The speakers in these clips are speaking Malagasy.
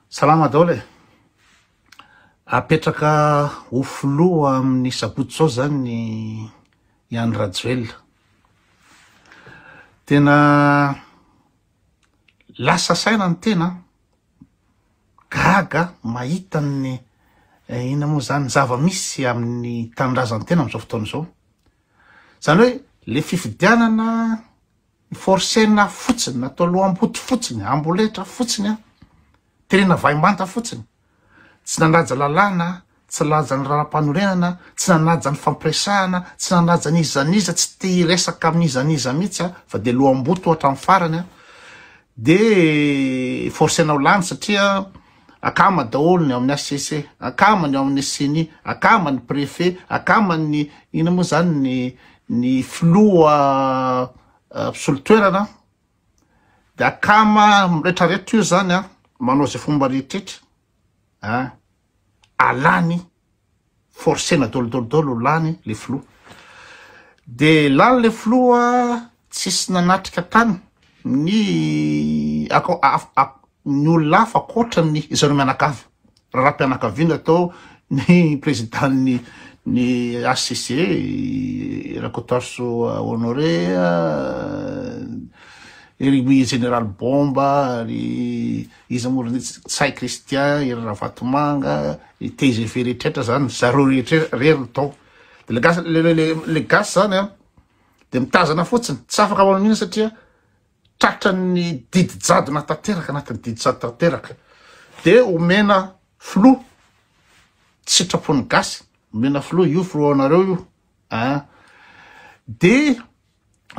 Salama daholo e! Apetraka ho filoha amin'ny sabotsy zao zany i Andry Rajoelina. Tena lasa saina ny tena, gaga mahita ny eh, ina moa zany zava-misy amin'ny tanindrazan-tena amin'izao fotoana izao. Zany hoe le fifidianana Ny forcena fotsiny, natao lohamboto fotsiny, amboletra fotsiny aho, terena vaimanta fotsiny. Tsy nanaja lalàna, tsy nalaja ny raharaham-panorenana, tsy nanaja ny fampiresahana, tsy nanaja ny iza n'iza, tsy te hiresaka amin'ny iza n'iza mihitsy aho fa dia lohamboto hatramin'ny farany aho. Dia forcena ho lany satria. akama daholo ny ao amin'ny HCC, akama ny ao amin'ny ceni, akama ny préfet, akama ny ina moa zany ny ny filoha eh, mpisolo toerana de akama miretraretra io zany a manao zay fomba rehetrretra a alany forcena dol dol dol lany le filoha de lany le filoha tsisy nanatrika tany ny ako ny olona hafa akoatra ny zareo mianakavy raharaham-pianakaviana atao ny président-ny ny HCC Rakotaroso Honoré ry Général Bomba ry Iza moa ry nitsy? Ntsay Christian, ery Ravatomanga, i tgv rehetrretra zany, zareo rehetra rery ny tao. De le gasy le le le gasy zany an de mitazana fotsiny, tsy afaka manao mihitsy satria tratran'ny didy jadona tanteraka anatin'ny didy jadona tanteraka. De omena filoha tsy sitrapon'ny gasy, omena filoha io filohanareo io an. De.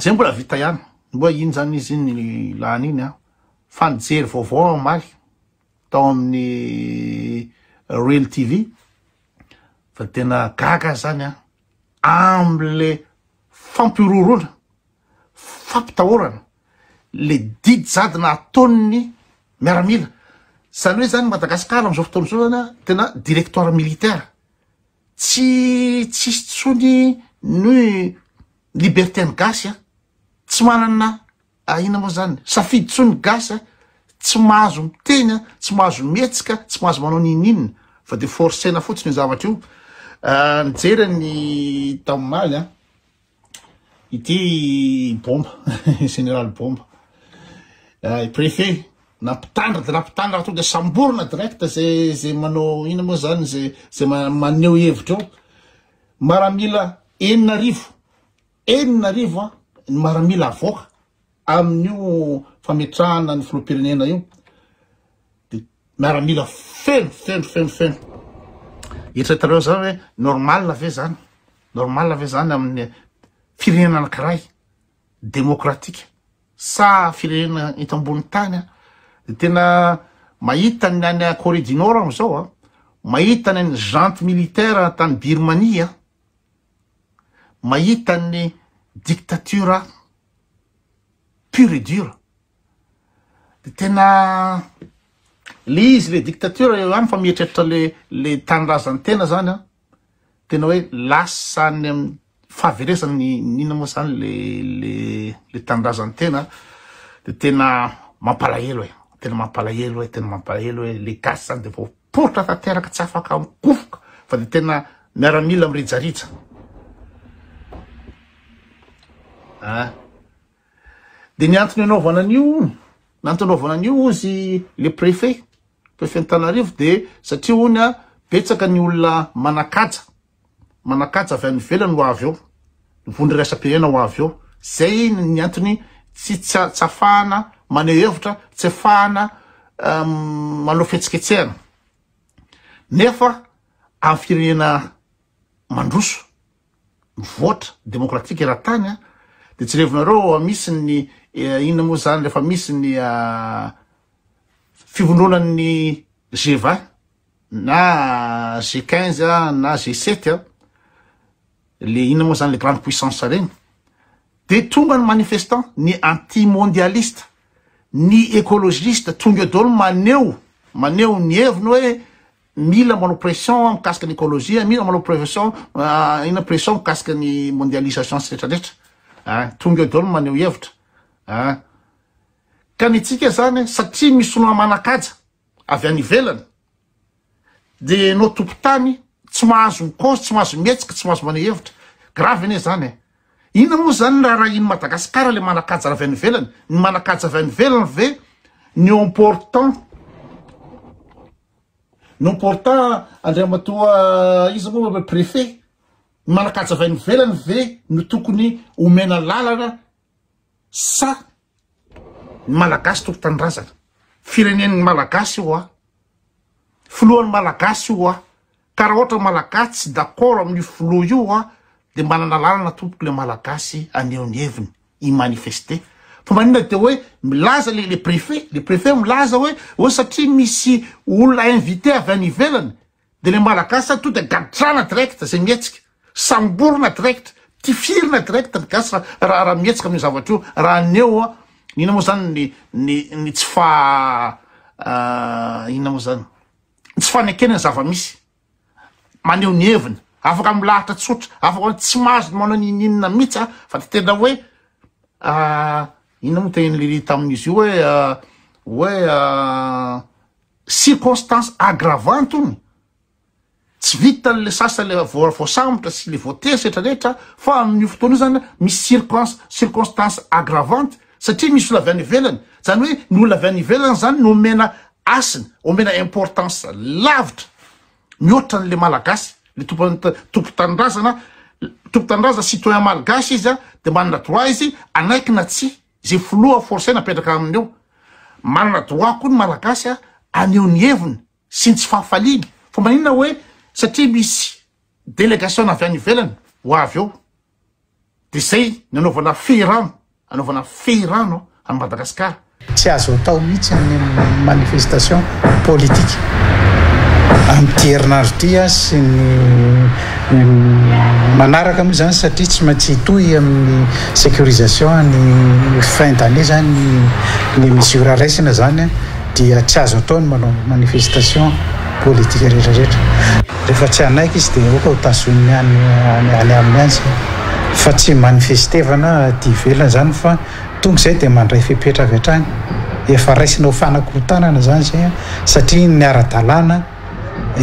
Zay mbola vita ihany. Mbola iny zany izy iny lany iny an. Fa nijery vaovao aho omaly tao amin'ny Real TV fa tena gaga aho zany an. Amle fampihorohoroana, fampitahorana, le didy jadona ataon'ny miaramila. Zany hoe zany Madagasikara amin'izao fotoana izao zany an tena directoire militaire. Tsy tsisy tsony ny liberté ny gasy a! Tsy manana ahiana moa zany safidy tsony ny gasy a! Tsy mahazo miteny a! Tsy mahazo mihetsika, tsy mahazo manao n'inon'inona fa de forcena fotsiny io zavatra io! Nijery an'i Daomaly a! Ity Bomba, Général Bomba. Eh, préfet, na mpitandra de na mpitandra tonga de samborina direct ze ze manao ina moa zany ze ze maneho hevitra eo. Maramila enina arivo, enina arivo an, ny maramila avoaka. Amin'io fametrahana ny filoham-pirenena io dia miaramila feno feno feno feno. Eritreretareo zao hoe normal ve zany? Normal ve zany amin'ny firenena anankiray demokratika sa firenena eto ambony tany an? Dia tena mahita ny any Corée du Nord aho zao an, mahita ny an'ny junte militaire tany Birmanie an, mahita ny dictature aho. pur et dur de tena le izy le dictature eo ihany fa mieritreritra le le tanindrazany tena zany an tena hoe lasa any am fahaverezany inona moa zany le le le tanindrazany tena de tena mampalahelo e tena mampalahelo e tena mampalahelo hoe le gasy zany de vao Poritra tanteraka tsy afaka mikofoka fa dia tena miaramila mirijarija a ah. dia ny antony anaovana an'io nantony anaovana an'io ozy le préfet préfet ny tanarivo dia satria ony a betsaka ny olona manakaja manakaja avy any ivelany ho avy eo, ny vondro iraisam-pirenena ho avy eo. Izay ny antony tsy tsy ahafahana maneho hevitra, tsy ahafahana manao fihetsiketsehana. Nefa amin'ny firenena mandroso, mivoatra, demokratika eran-tany, dia jerevinareo misy ny inona moa izany rehefa misy ny fivondronan'ny GVA, na G15 na G7 a, le inona moa zany le grande puissance reny, de tonga ny manifestant, ny anti mondialiste, ny ecologiste, tonga eo daholo maneho maneho ny heviny hoe mila manao pression mikasika ny ecologie, mila manao pression ah, inona pression mikasika ny mondialisation sy retraretra ah, tonga eo daholo maneho hevitra ah. Ka ny antsika zany satria misy olona manakaja avy any ivelany dia enao tompotany tsy mahazo mikaozy tsy mahazo mihetsika tsy mahazo maneho hevitra grave anie zany e inona moa zany ny raharahian'i Madagascar le manakaja avy any ivelany ny manakaja avy any ivelany ve ny eo important ny important Andriamatoa iza moa le préfet ny manakaja avy any ivelany ve no tokony omena lalana sa ny malagasy tompo tanindrazana firenen'ny malagasy io a filohan'ny malagasy io a ka raha ohatra malagasy tsy d'accord amin'ny filoha io a dia manana lalana tompoko le malagasy aneho ny heviny i manifester fa manina dia hoe milaza le le préfet le préfet milaza hoe hoe satria misy olona invité avy any ivelany De le malagasy sa tonga de gadrana direct zay mihetsika, samborina direct, tifirina direct ry gasy ra ra mihetsika amin'io zavatra io, ra aneo a inona moa zany ny ny ny tsy fa inona moa zany tsy fanekena ny zava-misy maneho ny heviny afaka milahatra tsotra afaka hoe tsy mahazo ny manao n'ininona mihitsy a fa de tena hoe inona moa tehin'i Lily tamin'izy io hoe hoe circonstance aggravante hono, tsy vitan le sasany le voasambotra sy le voateza rehetra rehetra fa amin io fotoana io zany misy circons circonstance aggravante satria misy olona avy any ivelany zany hoe ny olona avy any ivelany zany no omena asiny omena importance lavitra mihoatra anle malagasy le tompo tompo tanindrazana tompo tanindrazana citoyen malgache izy a de manana droit izy anaiky na tsy Ze filoha force napetraka aminy eo. Manana droit koa ny malagasy a aneho ny heviny sy ny tsy fahafaliany fa maninona hoe satria misy delegation avy any ivelany ho avy eo de zay ny anaovana fehirano anaovana fehirano any Madagascar. Tsy azo atao mihitsy ny manifestation politique amin'ity herinandro ity sy ny manaraka moa izany satria tsy maintsy hitohy amin'ny sécurisation any fin d'année izany ny mesure raisina izany dia tsy azo atao ny manao manifestation politique rehetrarehetra. Rehefa tsy hanaiky izy dia aoka ho tazoniny any any aminy any izany fa tsy manifestevana aty ivelany izany fa tonga izay dia mandray fepetra avy hatrany. Efa raisina ho fanakorontanana izany izay satria ny ara-dalàna.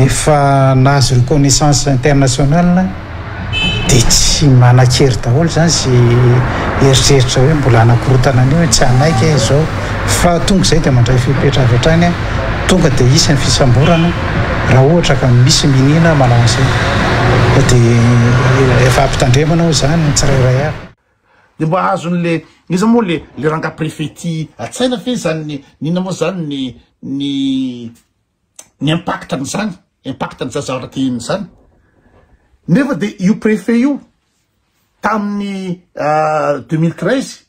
efa nahazo reconnaissance internationale dia tsy manan-kery daholo izany sy eritreritra hoe mbola hanakorotana an'io hoe tsy hanaiky aho izao fa tonga izay dia mandray fepetra avy hatrany aho tonga dia hisy ny fisamborana raha ohatra ka misy miniana manao an'izay dia efa ampitandremana ao izany ny tsirairay avy. Dia mba azony le iza moa le le ranga prefet ty atsaina fe zany ny nina moa zany ny ny ny impact an'izany, impact an'ny zaza ratin izany. Nefa dia io préfet io tamin'ny ah, deux mille treize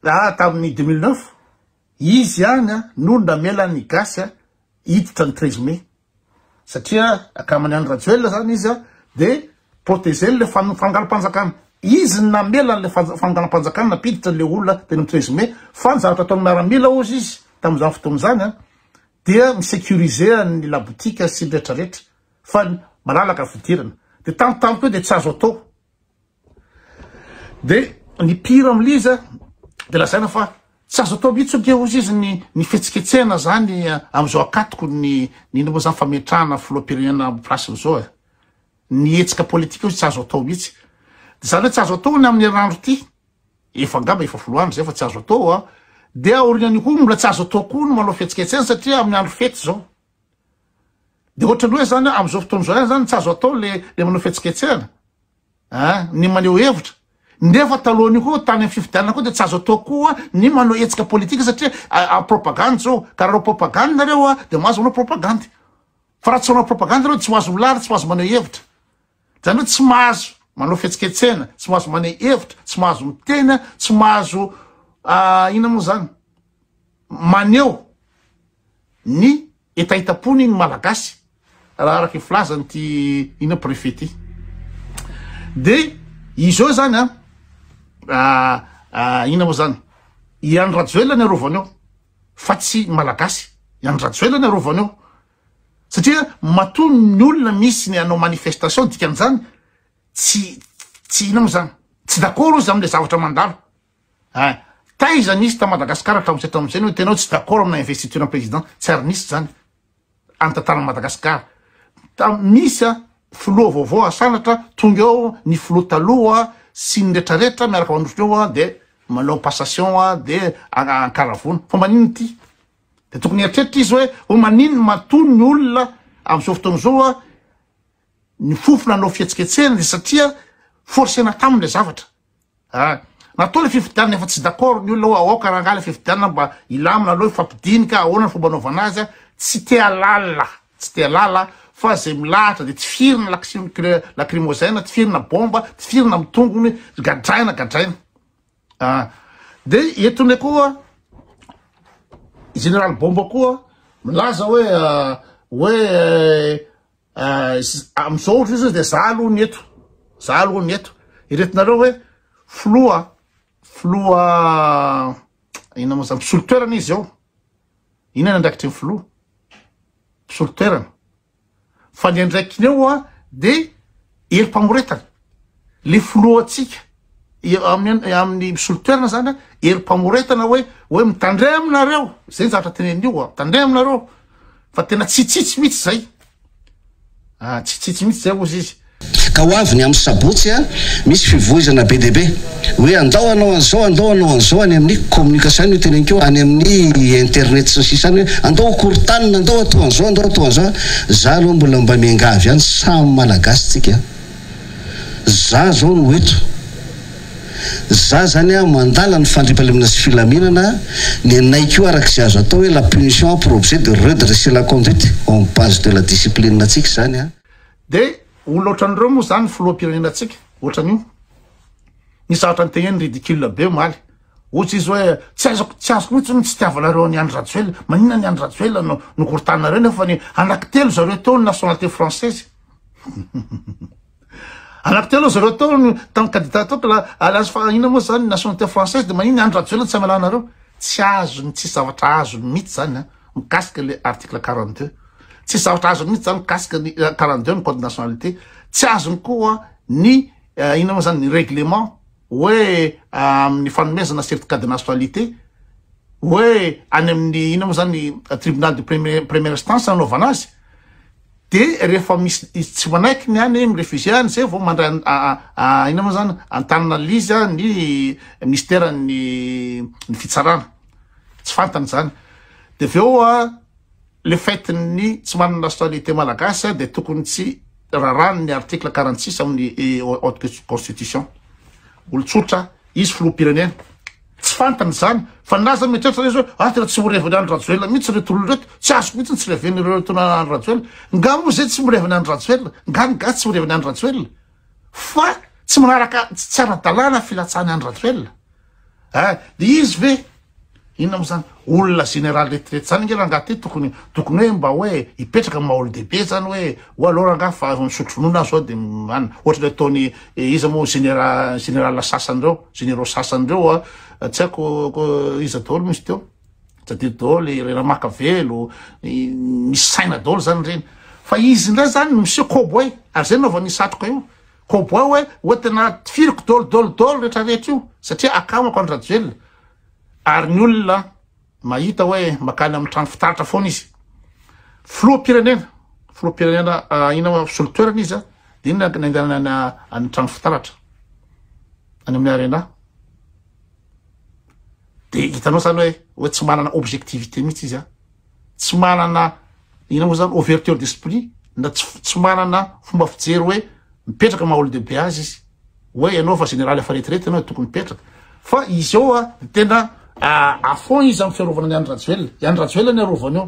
ah, tamin'ny deux mille neuf izy ihany ah, no namela ny gasy ah, hiditra ny treize mai satria akamany any Rajoelina zany izy dia Proteger an'ilay fangalam-panjakana. Izy no namela an'ilay fangalam-panjakana nampiditra an'ilay olona teny amin'ny treize mai, fa ny zavatra ataon'ny miaramila hozy izy tamin'izany fotoana izany dia mi-securiser an'ny labotika sy ny rehetrarehetra fa malalaka ny fidirana. Dia tamin'ny tamiko io dia tsy azo atao. Dia ny pire amin'ilay izy dia lazaina fa tsy azo atao mihitsy ange hozy izy ny ny fihetsiketsehana izany amin'izao ankatoko ny ny inona moa izany fametrahana filoham-pirenena amin'ny place-ny izao e. Ny hetsika politika hozy tsy azo atao mihitsy. Dia izany hoe tsy azo atao ny amin'ny herinandro ity, efa angamba efa folo andro izay fa tsy azo atao an! Dia aorian'io koa mbola tsy azo atao koa ny manao fihetsiketsehana satria amin'ny andro fety izao. Dia ohatran'ny hoe izany amin'izao fotoana izao ihany izany tsy azo atao ilay ilay manao fihetsiketsehana an! Ny maneho hevitra. Nefa talohan'io koa tany amin'ny fifidianana koa dia tsy azo atao koa ny manao hetsika politika satria propagande izao. Ka raha hanao propagande nareo an! Dia mahazo manao propagande. Fa raha tsy manao propagande ianao dia tsy ho azo milaly, tsy ho azo maneho hevitra. Izany hoe tsy mahazo manao fihetsiketsehana, tsy mahazo maneho hevitra, tsy mahazo miteny, tsy mahazo inona moa izany, maneho ny hetahetam-pony ny Malagasy raha araka ny filazan'ity inona préfet ity. Dia izao izany an, inona moa izany, i Andry Rajoelina ny arovany eo. fa tsy malagasy iany rajoela ny arovany eo satria matoa ny olona misy ny anao manifestation dikan'izany tsy tsy inao zany tsy dakoro izy amle zavatra mandalo eh taiza nisy ta madagasikara hatramin'izay hatramin'izay no tenao tsy dakoro amina investiture president tsy ary nisy zany Antantaran'i Madagasikara. Misy a filoha vaovao asanatra, tonga eo ny filoha taloha sy ny retraretra miaraka mandositra eo a, dia manao passation a, dia ankaravona. Fa maninona ity? Dia tokony hieritreritra izy hoe, hoe maninona matoa ny olona amin'izao fotoana izao a, ny fofona hanao fihetsiketsehana dia satria forcena taminy ilay zavatra. A, Matoa le fifidianana efa tsy d'accord ny olona hoe aoka rangah le fifidianana mba hilamina aloha hifampidinika ahoana ny fomba anaovana azy a, tsy te halala, tsy te halala fa zay milahatra de tifirina laksimo kle lakrimozena, tifirina bomba, tifirina amin'ny tongony, gadraina, gadraina a, de eto ndray koa Général Bomba koa milaza hoe hoe Ah, amizao ohatra zao dia za aloha ny eto, za aloha ny eto. Iretinareo hoe filoha, filoha ina moa zany mpisolo toerana izy eo. Ina ny andraikitry ny filoha? Mpisolo toerana. Fa ny andraikiny eo a dia Herim-pamoretana. Le filohantsika amin'ny amin'ny misolo toerana zany a, herim-pamoretana hoe hoe mitandrema aminareo, zay ny zavatra teneniny io a, mitandrema aminareo fa tena tsitsitsy mihitsy zay. Ah, tsitsitsy mihitsy zay hozy izy. Ka ho avy ny amin'ny sabotsy, misy fivoizana be dia be. Hoe andao hanao an'izao, andao hanao an'izao any amin'ny communication io teneniko io, any amin'ny internet sy ny sisa any hoe andao ho korontanina, andao hatao an'izao, andao hatao an'izao an! Za aloha mbola mba miangavy ihany, samy Malagasy tsika an! Za zao no eto, za zany an mandala ny fandriampahalemana sy filaminana, nenay koa araka izay azo atao hoe la punition a pour objet de redresser la conduite en base de la discipline tsika izany an! Dia olona ohatran'ireo moa izany ny filoham-pirenena tsika, ohatran'io. Nisy zavatra niteneniny ridicule be omaly. Ohatry izy hoe tsy aizako tsy azoko mihitsy ny tsy tiavanareo an'i Andry Rajoelina. Maninona ny Andry Rajoelina no nokorotaninareo nefa ny anaky telo zareo teo ny nationalité française. anaky telo zareo teo ny tamin'ny candidat teo ka alliance fa inona moa zany nationalité française de maninona Andry Rajoelina tsy amelanareo. Tsy azony tsy zavatra azony mihitsy zany a mikasika le article 42. Tsy zavatra azony mihitsy zany mikasika ny 42 ny code nationalité. Tsy azony koa ny Inona moa zany ny règlement hoe amin'ny fanomezana certificat de nationalité hoe any amin'ny inona moa zany tribunal de première instance anaovana azy de rehefa misy tsy manaiky ny any mi-refusé any zay vao mandray inona moa zany antanana liza ny misteran'ny ny fitsarana tsy fantany zany de avy eo a Le fait ny tsy manana nationalité malagasy dia tokony tsy rarahan'ny article quarante six amin'ny haute constitution. Olon-tsotra izy filoham-pirenena. Tsy fantany izany fa na aza mieritreritra izy hoe ah tena tsy ho reveny Andry Rajoelina mihitsy ireto olona ireto, tsy azoko mihitsy ny tsy reveny ireo ireto olona Andry Rajoelina. Nga moa izay tsy mireveny Andry Rajoelina? Nga ny gasy tsy mireveny Andry Rajoelina? Fa tsy manaraka tsy tsy ara-dalàna filatsahan'i Andry Rajoelina. Eh de izy ve inona mo zany olona général retirety zany nge rangah ty tokony tokony hoe mba hoe hipetraka amin'ny maha olondehibe zany hoe ou alors angah fa misotro ronono azy zao de an ohatra le ataony iza mo généra général sasany reo généraux sasany reo a tsy haiko ko iza daholo misy teo tadidio daholo i Ramakavelo i misy saina daholo zany reny fa izy ndray zany miseho kobo hay ary zay naovany satroka io Koba hoe hoe tena tifiriko dol dol dol rehetra rehetra io satria akamako an Rajoelina ary ny olona mahita hoe makany amin'ny trano fitaratra foana izy. Filoham-pirenena, filoham-pirenena ah, ina moa fisolo toerana izy ah, dia inona ny andehanana any amin'ny trano fitaratra any amin'ny arena. Dia hitanao izany hoe hoe tsy manana objectivité mihitsy izy ah. tsy manana inona moa zany ouverture d'esprit na tsy tsy manana fomba fijery hoe mipetraka maha olon-dehibe azy izy hoe ianao fa généraly efa retirety ianao tokony mipetraka fa izy eo a de tena à fond izy amin'ny fiarovana ny Andry Rajoelina i Andry Rajoelina ny arovany eo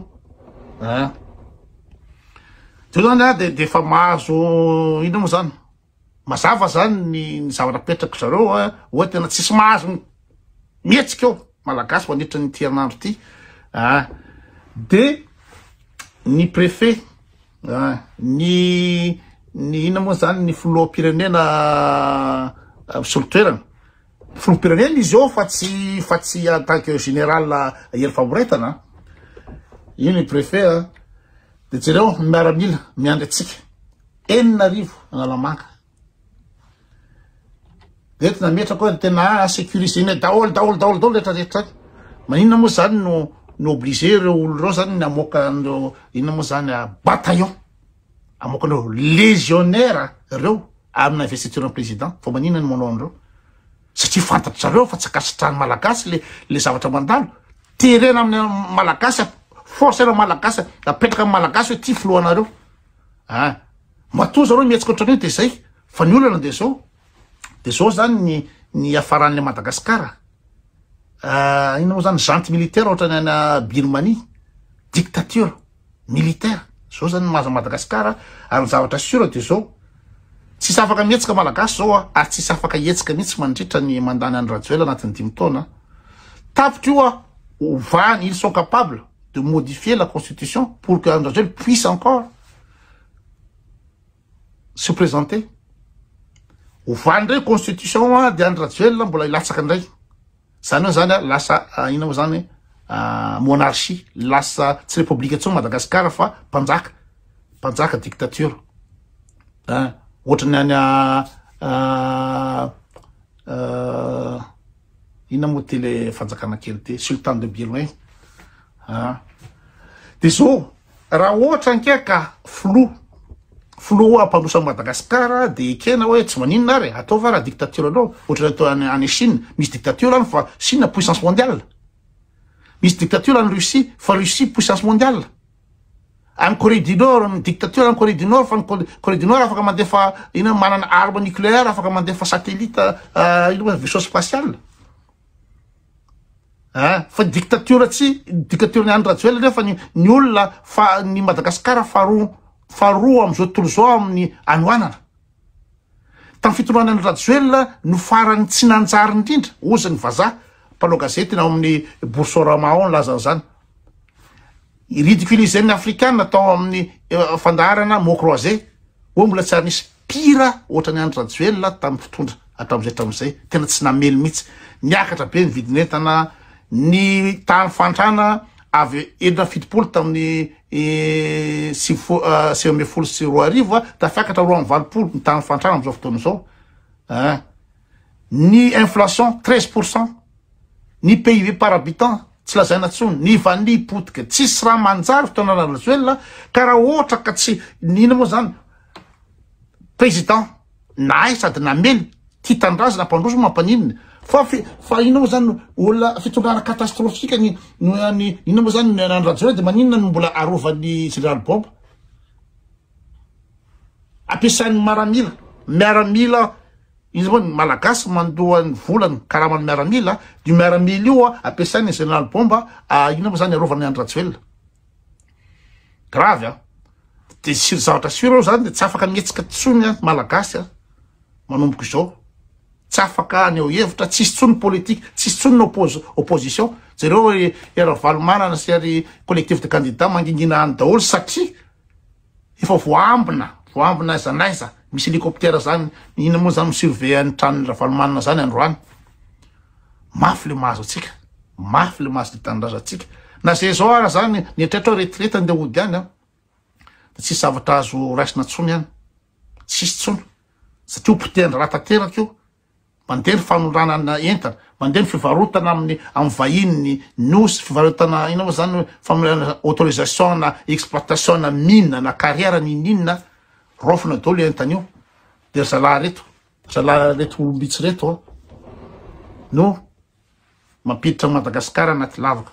a teo zany a de de efa mahazo inona moa zany Mazava zany ny ny zavatra apetrak'ry zareo a, oa tena tsisy mahazo ny mihetsika eo Malagasy mandritra an'ity herinandro ity a, de ny prefet a, ny ny inona moa zany ny filoham-pirenena misolo toerana, filoham-pirenena izy eo fa tsy fa tsy en tant que général Hery Famoretana a, io ny prefet a, de jereo ny miaramila miandry antsika, Enina arivo Analamanga. Eto nametrako hoe tena sécurisé-nay daholo daholo daholo daholo rehetra rehetra zany. Maninona moa zany no no obligé ireo olona ireo zany ny hamoaka an'ireo inona moa zany ah, bataillon. Hamoaka an'ireo légionnaires ireo amina investiture-n'ny président. Fa maninona no manao an'ireo? Satria fantatry zareo fa tsy ankasitrahan'ny malagasy le le zavatra mandalo. Terena amin'ny malagasy, force-na malagasy, apetraka amin'ny malagasy hoe ty filohanareo. Ah! Matoa zareo mihetsika ohatran'io dia zay fa ny olana dia zao. Dia zao zany ny ny hiafaran'ilay Madagasikara. Ah, inona moa zany Junte militaire ohatran'ny any Birmanie. Dictature militaire. Zao zany ny maha Madagasikara ary ny zavatra sûr dia zao. Tsisy afaka mihetsika Malagasy zao ah, ary tsisy afaka hihetsika mihitsy mandritra ny mandany an'i Rajoelina anatin'ny dimy taona. Tapitra io ah, ovany, ils sont capables. de modifier la constitution pour que Andry Rajoelina puisse encore se présenter. Ovany indray constitution dia Andry Rajoelina mbola hilatsaka indray. Zany hoe zany a lasa ah, ina moa zany ah, monarchie, lasa tsy république intsony Madagascar fa mpanjaka, mpanjaka dictature. Hein? Ohatran'ny any a ah, Inona moa ity le fanjakana kely ity? Sultan de Biloin ah. De zao raha ohatra ankia ka filoha filoha ampandroso an'i Madagasikara dia ekena hoe tsy maninona ary atao va raha dictature anao ohatran'ny atao any any Chine misy dictature any fa Chine puissance mondiale misy dictature any Russie fa Russie puissance mondiale Any Corée du Nord, ny dictature any Corée du Nord, fa ny Corée du Nord afaka mandefa ina manana arme nucléaire, afaka mandefa satellite euh, ina vaisseau spatial. Hein? Fa dictature tsy dictature ny Andradjoel nefa ny ny olona fa ny Madagascar faharoa faharoa am'izao tontolo izao amin'ny anoanana. Tamin'ny fitondrana an'i Rajoelina no farany tsy nanjary indrindra, hozy ny vazaha, mpanao gazety ao amin'ny Boursorama ao nilaza an'izany. Ridiculiser ny Afrikana tao amin'ny fandaharana mots croisés, hoe mbola tsy ary nisy pire ohatran'i Andry Rajoelina tamin'ny mpitondra hatramin'izay hatramin'izay, tena tsy namely mihitsy. Niakatra be ny vidin'entana, ny tahan'ny fahantrana avy enina amby fitopolo tamin'ny sivifo- ah, sivy ambin'ny folo sy roa arivo ah, tafiakatra roa amby valopolo ny tahan'ny fahantrana amin'izao fotoana izao ah. ny inflation treize pour cent ny PIB par habitant tsy lazaina tsony ny vanille potika tsisy raha manjary fotoana rajoelina ka raha ohatra ka tsy nina moa zany président nahay sady namely ty tanindrazana mpandroso moa mampaninona fa fa inona moa zany olona fitondrana catastrophique ny ny inona moa zany ny an'i Rajoelina dia maninona no mbola arovan'ny général Bob ampiasain'ny maramila miaramila izy moa ny malagasy mandoa ny volany karaman'ny miaramila io miaramila io ampiasain'ny général Bob inona moa zany arovany an'i Rajoelina Grave an! Dia sur zavatra sur aho izany dia tsy afaka mihetsika intsony an, Malagasy an, manomboka izao. Tsy afaka haneho hevitra, tsisy intsony ny politique, tsisy intsony ny oppos- opposition. Jereo ry Ravalomanana sy ry collectif de candidats mangingina any daholo satria, Efa voaambina, voaambina aiza n'aiza, misy hélicoptère zany, inona moa zany mi surveiller ny tranon'i Ravalomanana zany androany. Mafy le mahazo antsika, mafy le mahazo ny tanindrazantsika. Na zay zao ara zany, mieritreritra hoe retirety andeha hody any an, de tsisy zavatra azo raisina tsony any, tsisy tsony, satria ho potehin-draharaha tanteraka io. Mandeha ny fanondranana entana, mandeha ny fivarotana amin'ny amin'ny vahiny ny Nosy, fivarotana inona moa izany hoe famoahana autorisation na exploitation na mine na carrière n'ininona, raofina daholo io entana io. Dia ry zalahy ireto, ry zalahy ireto olom-bitsy ireto no mampiditra an'i Madagasikara anaty lavaka.